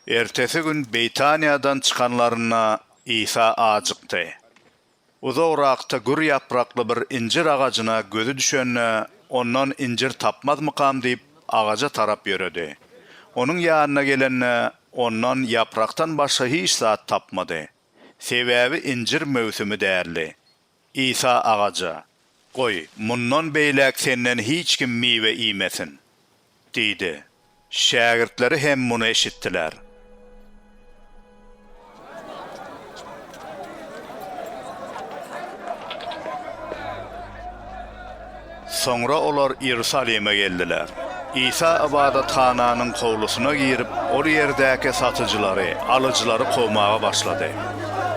Ertesi gün Beýtaniýadan çykanlarynda Isa ajykdy. Uzagrakda gür ýaprakly bir injir agajyna gözi düşende, ondan injir tapmazmykam diýip, agaja tarap ýöredi. Onuň ýanyna gelende, ondan ýaprakdan başga hiç zat tapmady. Sebäbi injir möwsümi däldi. Isa agaja, Goý, mundan beýläk senden hiç kim miwe iýmesin! diýdi. Şägirtleri hem muny eşitdiler. Soňra olar Iýerusalime geldiler. Isa ybadathananyň howlusyna girip, ol ýerdäki satyjylary, alyjylary kowmaga başlady.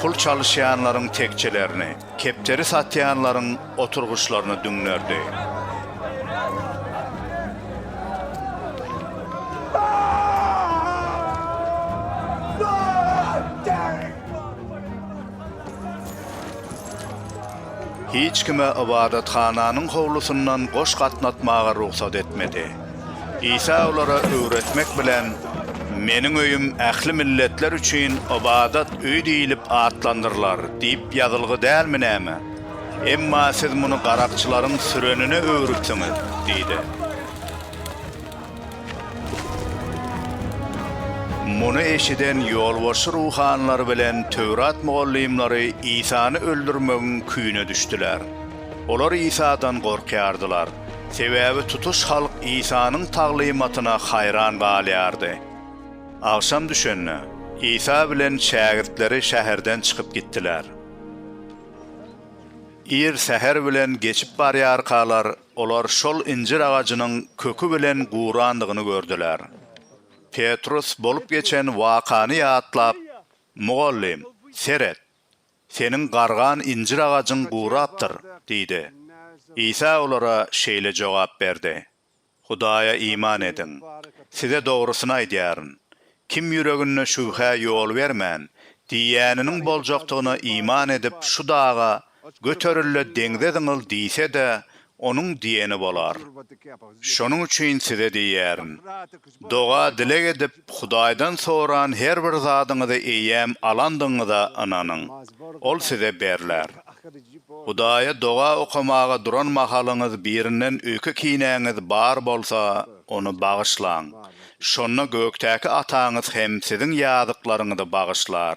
Pul çalyşýanlaryň tekjelerini, kepderi satýanlaryň oturgyçlaryny düňderdi. Hiç kime ybadathananyň howlusyndan goş gatnatmaga rugsat etmedi. Isa olara öwretmek bilen, Meniň öýüm ähli milletler üçin ybadat öýi diýlip atlandyrylar diýip ýazylgy dälmi näme? Emma siz muny garakçylaryň sürenine öwrüpsiňiz diýdi. Muny eşiden ýolbaşçy ruhanylar bilen Töwrat mugallymlary Isany öldürmegiň küýüne düşdüler. Olar Isadan gorkýardylar, sebäbi tutuş halk Isanyň taglymatyna haýran galýardy. Agşam düşende, Isa bilen şägirtleri şäherden çykyp gitdiler. Ir säher bilen geçip barýarkalar, Olar şol injir agajynyň köki bilen gurandygyny gördüler. Petrus bolup geçen wakany ýatlap, Mugallym, seret! Seniň gargan injir agajyň gurapdyr! diýdi. Isa olara şeýle jogap berdi, Hudaýa iman ediň. Size dogrusyny aýdýaryn, Kim ýüreginde şübhä ýol bermän, diýýäniniň boljakdygyna iman edip, şu daga, Göteril-de, deňze zyňyl diýse-de, onuň diýeni bolar. Şonuň üçin size diýýärin, doga-dileg edip, Hudaýdan soran her bir zadyňyzy eýýäm alandygyňyza ynanyň, ol size berler. Hudaýa doga okamaga duran mahalyňyz birinden öýke kinäňiz bar bolsa, ony bagyşlaň. Şonda gökdäki Ataňyz hem siziň ýazyklaryňyzy bagyşlar.